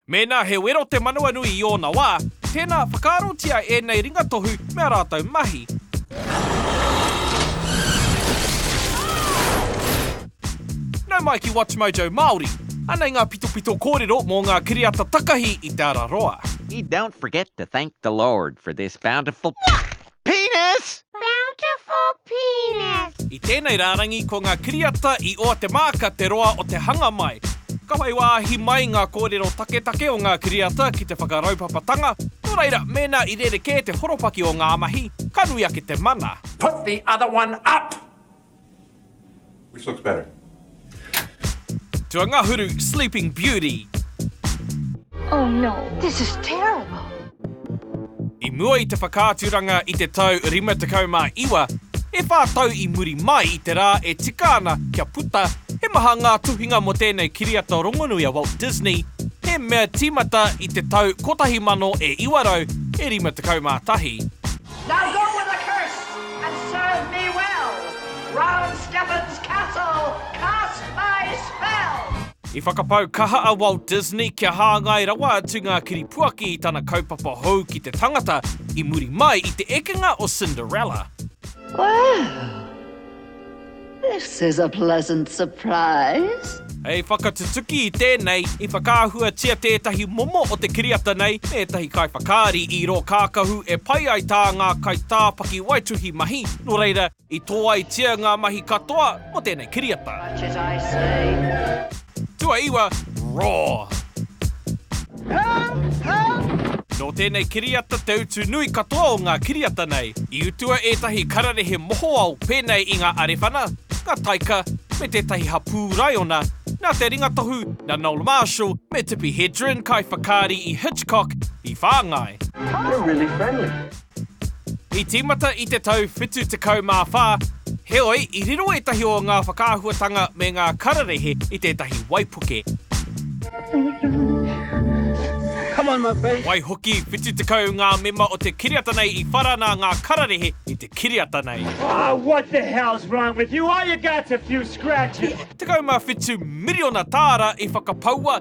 Mēnā he wero te manawanui i ōna wā, tēnā whakaarotia ēnei ringatohu me ā rātou mahi. Nau mai ki WatchMojo Māori. Anei ngā pitopito kōrero mō ngā kiriata takahi i Te Araroa. You don't forget to thank the Lord for this bountiful Penis! Bountiful penis! I tēnei rārangi ko ngā kiriata i oa te māka te roa o te hanga mai. Ka whai wāhi mai ngā kōrero taketake o ngā kiriata ki te whakaraupapatanga, nō reira mēnā i rerekē te horopaki o ngā mahi, ka nui ake te mana. Put the other one up! Which looks better? To a ngahuru sleeping beauty. Oh no, this is terrible. I mua i te whakaaturanga i te tau 59, e whā tau i muri mai i te rā e tika ana kia puta, he maha ngā tuhinga mō tēnei kiriata rongonui a Walt Disney, he mea tīmata i te tau 1951. Now go with a curse and serve me well Round Skeffins Castle cast my spell! I whakapau kaha a Walt Disney kia hāngai rawa atu ngā kiripuaki i tana kaupapa hou ki te tangata i muri mai i te ekenga o Cinderella. Well! This is a pleasant surprise. Hei whakatutuki i tēnei, i whakaahuatia tētahi momo o te kiriata nei me ētahi kaiwhakaari i rō kākahu e pai ai tā ngā kaitā pakiwaituhi mahi, nō reira, i tōaitia ngā mahi katoa mō tēnei kiriata. Tuaiwa, Raw. Nō tēnei kiriata te utu nui katoa o ngā kiriata nei. I utua ētahi kararehe mohoao pēnei i ngā arewhana, ngā taika, me tētahi hapū raiona, nā te ringatohu, nā Noel Marshall me Tippi Hedren, kaiwhakaari i Hitchcock, i whāngai. I tīmata i te tau 74, heoi, i riro ētahi o ngā whakaahuatanga me ngā kararehe i tētahi waipuke. Waihoki, 70 ngā mema o te kiriata nei i whara nā ngā kararehe i te kiriata nei. 17 miriona tāra i whakapaua,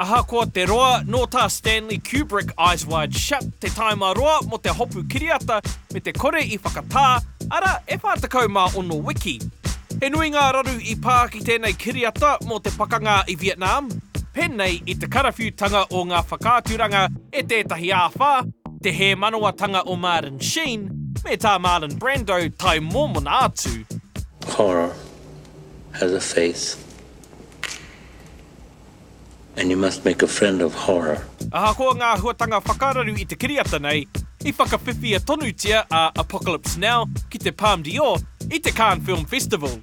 Ahakoa te roa, nō tā Stanley Kubrick Eyes Wide Shut te tāima roa mō te hopu kiriata me te kore i whakatā, arā, e 46 wiki. He nui ngā raru i pā ki tēnei kiriata mō te pakanga i Vietnam, pēnei i te karawhiutanga o ngā whakaaturanga e tētahi āwhā, te hē manawatanga o Martin Sheen me tā Marlon Brando tae mōmona atu. Horror has a face and you must make a friend of horror. Ahakoa ngā huatanga whakararu i te kiriata nei, i whakawhiwhia tonutia a Apocalypse Now ki te Palme d'Or i te Cannes Film Festival.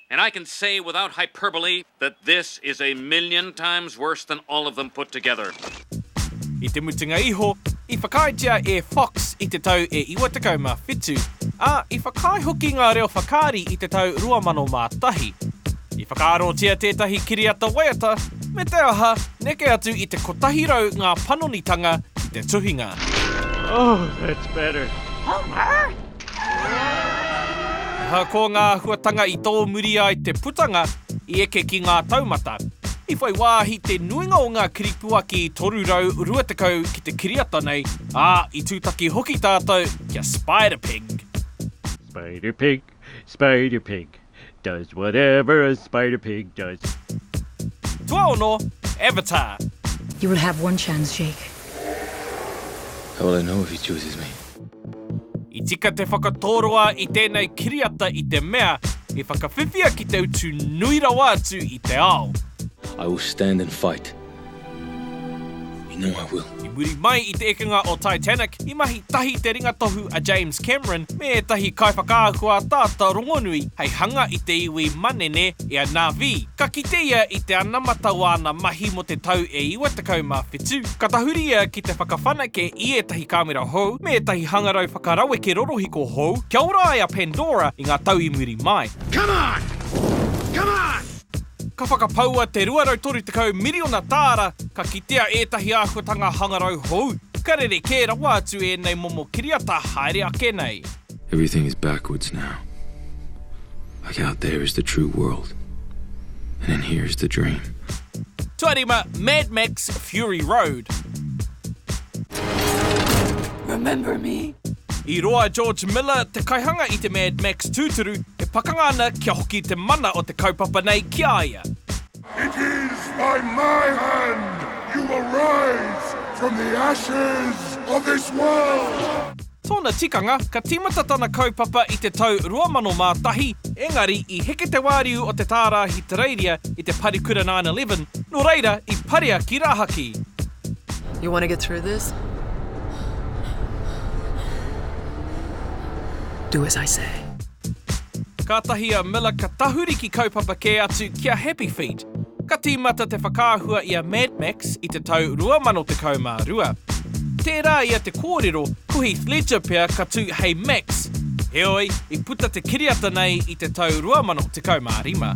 And I can say without hyperbole that this is a million times worse than all of them put together. I te mutunga iho, i whakaaetia e Fox i te tau e 97, ā, i whakaae hoki ngā reo whakaari i te tau 2001. I whakaarotia tētahi kiriata waiata, me te aha, neke atu i te 100 ngā panonitanga ki te tuhinga. Oh, that's better. Homer! Ko ngā āhuatanga i tōmuri ai te putanga i eke ki ngā taumata, i whai wāhi te nuinga o ngā kiripuaki 320 ki te kiriata nei, ā, i tūtaki hoki tātou kia Spider Pig. Spider Pig, Spider Pig. Does whatever a spider pig does. Tuaono, Avatar. You will have one chance, Jake. How will I know if he chooses me? I tika te whakatōroa i tēnei kiriata i te mea i whakawhiwhia ki te utu nui rawa atu i te ao. I will stand and fight. You know I will. I muri mai i te ekenga o Titanic, i mahi tahi te ringatohu a James Cameron me ētahi kaiwhakaahua ataata rongonui hei hanga i te iwi manene i a Na'vi. Ka kite ia i te anamata o āna mahi mō te tau e 97. Ka tahuri ia ki te whakawhanake i ētahi kāmera hou me ētahi hangarau whakaraweke rorohiko hou kia ora ai a Pandora i ngā tau i muri mai. Come on! Come on! Ka whakapaua te 230 miriona tāra ka kitea ētahi āhuatanga hangarau hou. Ka rere kē rawa atu ēnei momo kiriata haere ake nei. Everything is backwards now. Like out there is the true world and in here is the dream. Tuarima, Mad Max, Fury Road. Remember me. I roa a George Miller, te kaihanga i te Mad Max tūturu, e pakanga ana kia hoki te mana o te kaupapa nei ki a ia. It is by my hand you will rise from the ashes of this world! Tōna tikanga, ka tīmata tana kaupapa i te tau 2001, engari i heke te wāriu o te tārahi Tereiria i te Parekura 9-11, nō reira i parea ki rāhaki. You want to get through this? Do as I say. Kātahi a Miller ka tahuri ki kaupapa kē atu ki a Happy Feet. Ka tīmata te whakaahua i a Mad Max i te tau 2012. Tērā ia te kōrero, ko Heath Ledger pea ka tū hei Max, heoi, i puta te kiriata nei i te tau 2015.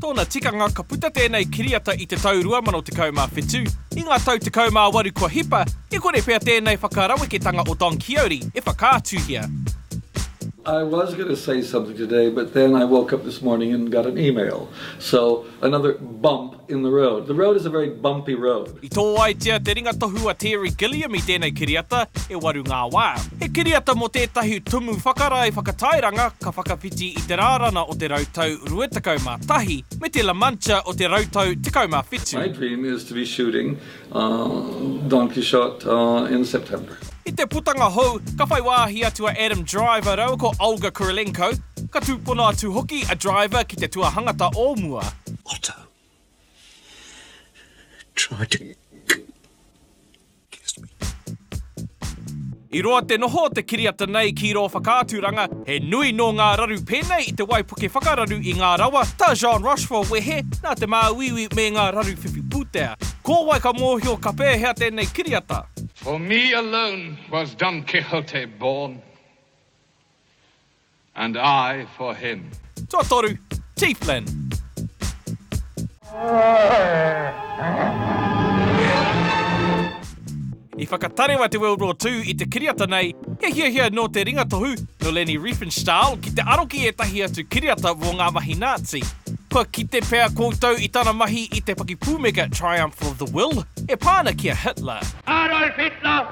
Tōna tikanga ka puta tēnei kiriata i te tau 2017. I ngā tau tekau mā waru kua hipa, e kore pea tēnei whakaraweketanga o Don Quixote e whakaatuhia. I was going to say something today but then I woke up this morning and got an email so another bump in the road. The road is a very bumpy road. I tōaitia te ringatohu a Terry Gilliam i tēnei kiriata e waru ngā wā. He kiriata mō tētahi tumu whakarae whakatairanga ka whakawhiti i te rārana o te rautau rua tekau mā tahi me te La Mancha o te rautau tekau mā whitu. My dream is to be shooting Don Quixote in September. I te putanga hou, ka whai wāhi atu a Adam Driver rāua ko Olga Kurylenko, ka tūpono atu hoki a Driver ki te tuahangata o mua. Otto, Try to kiss me. I roa te noho o te kiriata nei ki rō whakaaturanga, he nui nō ngā raru pēnei i te waipuke whakararu i ngā rawa, tā Jean Rochefort wehe, nā te māuiui me ngā raru whiwhi pūtea. Ko wai ka mōhio ka pēhea tēnei kiriata? For me alone was Don Quixote born, And I for him. Tuatoru, T. Flynn. I whakatarewa te World War Two i te kiriata nei, he hiahia nō te ringatohu, nō Leni Riefenstahl, ki te aro ki ētahi atu kiriata mō ngā mahi Nāzi. Kua kite pea koutou i tana mahi i te pakipūmeka Triumph of the Will, e pā ana ki a Hitler. Adolf Hitler,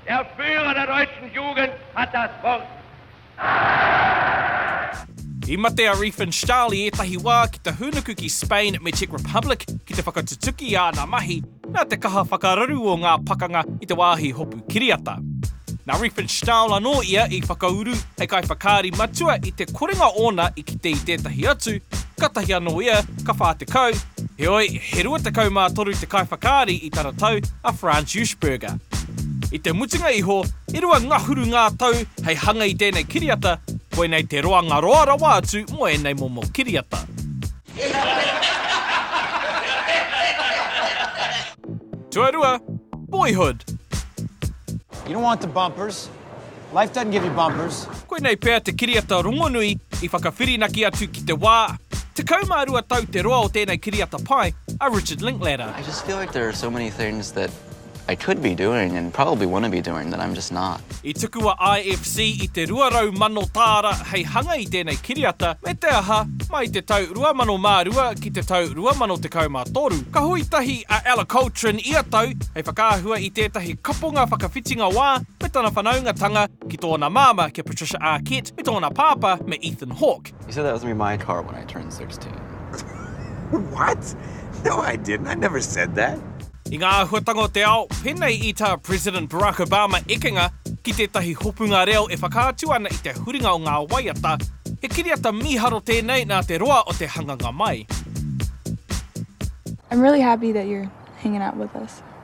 Der Führer der deutschen Jugend hat das Wort! I mate a Riefenstahl i ētahi wā ki te hūnuku ki Spain me Czech Republic ki te whakatutuki i āna mahi, nā te kaha whakararu o ngā pakanga i te wāhi hopu kiriata. Nā Riefenstahl anō ia i whakauru hei kaiwhakaari matua i te korenga ōna i kite i tētahi atu, kātahi anō ia ka whā tekau, heoi, he rua tekau mā toru te kaiwhakaari i tana tau, a Franz Juschberger. I te mutunga iho, e rua ngahuru ngā tau hei hanga i tēnei kiriata, koinei te roanga roa rawa atu mō ēnei momo kiriata. Tuarua, Boyhood. Life doesn't give you bumpers. Koinei pea te kiriata rongonui i whakawhirinaki atu ki te wā, 12 tau te roa o tēnei kiriata pai, a Richard Linklater. I just feel like there are so many things that I could be doing and probably want to be doing that I'm just not. I tuku a IFC i te 200 mano tāra hei hanga i tēnei kiriata, me te aha, mai te tau 2002 ki te tau 2013, ka hui tahi a Ella Coltrin ia tau hei whakaahua i tētahi kaponga whakawhitinga wā, me tana whanaungatanga ki tōna māmā kia Patricia Arquette me tōna pāpā me Ethan Hawke. You said that was going to be my car when I turned 16. What? No I didn't, I never said that. I ngā āhuatanga o te ao, pēnei i tā President Barack Obama ekenga ki tētahi hopunga reo e whakaatu ana i te huringa o ngā waiata, he kiriata mīharo tēnei nā te roa o te hanganga mai. I'm really happy that you're hanging out with us.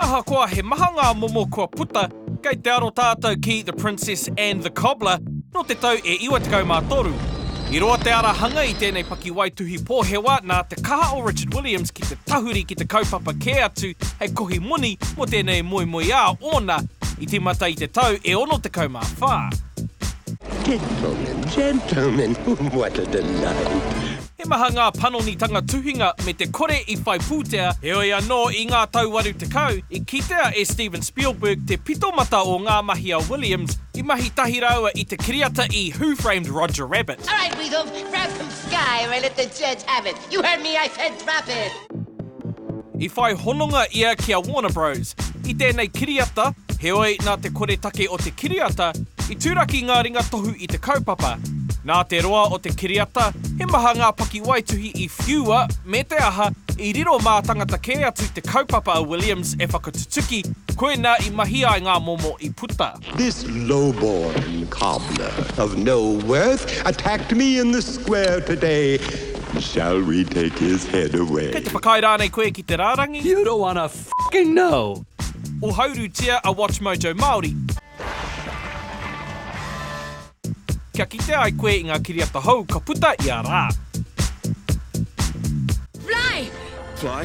Ahakoa he maha ngā momo kua puta, kei te aro tātou ki The Princess and the Cobbler nō te tau e 93. I roa te ara hanga i tēnei pakiwaituhi pōhewa nā te kaha o Richard Williams ki te tahuri ki te kaupapa kē atu hei kohi moni mō tēnei moemoeā ōna i tīmata i te tau e 64. Gentlemen, gentlemen, what a delight! He maha ngā panonitanga tuhinga me te kore i whai pūtea, heoi anō i ngā tau waru tekau, i kitea e Steven Spielberg te pito mata o ngā mahi a Williams i mahi tahi rāua i te kiriata i Who Framed Roger Rabbit. All right, Weedle, grab some sky and let the judge have it. You heard me, I said drop it! I whai hononga ia ki a Warner Bros. I tēnei kiriata, heoi, nā te koretake o te kiriata, i turaki ngā ringa tohu i te kaupapa. Nā te roa o te kiriata, he maha ngā pakiwaituhi i whiua, me te aha, i riro mātangata kē atu te kaupapa a Williams e whakatutuki, koinā i mahi ai ngā momo i puta. This low-born cobbler of no worth attacked me in the square today, shall we take his head away? Kei te whakaae rānei koe ki te rārangi? You don't wanna f***ing know! Ohaurutia a WatchMojo Māori kia kite ai koe i ngā kiriata hou ka puta ia rā. Fly! Fly?